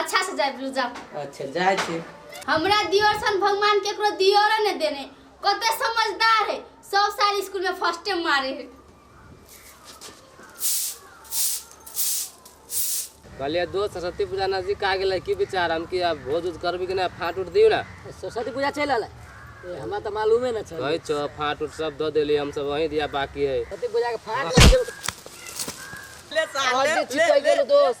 अच्छा से जाए बोलू जा अच्छा जाए छी हमरा दियोर सन भगवान केकरो दियोरे ने देने कते समझदार है सब साल स्कूल में फर्स्ट टाइम मारे है कहलिए दोस्त सरस्वती पूजा नजदीक आ गेलै की विचार हम कि आब भोज उज करबी कि नहि फाँट उट दियौ ने सरस्वती पूजा चलि आयल ए, हमरा तऽ मालूमे नहि छल कहै छौ फाँट उट सब दऽ देली हम सब वहीं दिया बाकी है सरस्वती पूजा के फाट ले साले ले ले दोस्त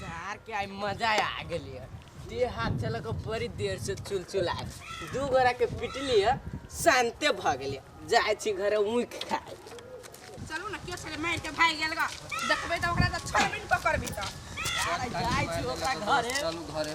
सार के आई मजा आ गेली है दे हाथ चला के बड़ी देर से चुलचुल आए दू गोरा के पिटली है शांते भ गेली जाए छी घरे ऊख खाए चलू ना क्यों चले मार के भाई गेल गा देखबे त ओकरा त छोड़ बिन पकड़बी त जाए छी ओकरा घरे चलू घरे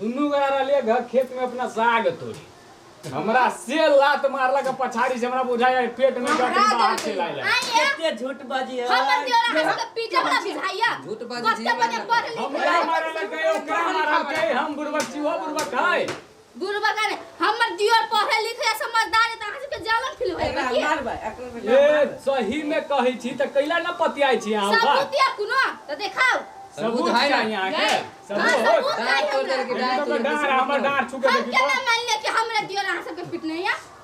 दुनू गोरा रहलियै घर खेत में अपना साग तोड़ी हमरा से लात मारला के पछाड़ी से हमरा बुझाय है पेट में जाके बाहर से लाइला केते झूठ बाजी है हमर देवरा हमरा के पीटल ना बुझाइया झूठ बाजी कते बजे पढ़ लिख हमरा मारला के ओकरा मारल के हम बुरबक छी वो बुरबक है गुरुबा का ने हमर दियोर पढ़े लिखे समझदार है त अहाँ सबके जलन फील होय एकरा बाकी मारबै एकरो बेटा ए मारबै। सही में कहै छी त कैला न पतियाइ छी अहाँ बा सबूत या कुनो त देखाओ सबूत है ना? चाहिए अहाँ के गए। हाँ, सबूत सबूत डाँड़ है तोड़ देलकै, हमरा। डाँड़ तोड़ देलकै, हमरा डाँड़ छू के हम देखी केना तो। मान ले कि हमरा दियोर अहाँ सबके फिट नहीं है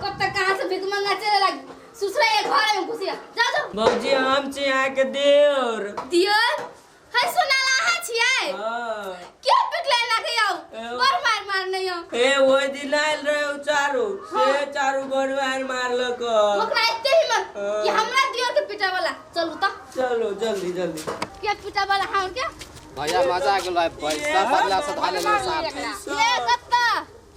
कब तक कहाँ से भिख मंगा चले लग ससुरा ये घर में घुसिया जाओ जाओ बाबूजी हम छी यहाँ के देवर दियो है सुनाला है छिए हाँ। क्यों पिकले ना के आओ एहो। और मार मार नहीं आओ ए वो दिन आयल रहे उ चारू से चारू गोर मार मारलक ओकरा एते हिम्मत हाँ। कि हमरा दियो के पिटा वाला चलू त चलो जल्दी जल्दी के पिटा वाला हां के भैया मजा आ गेलो है पैसा बदला से धाले लो साथ में ये कत्ता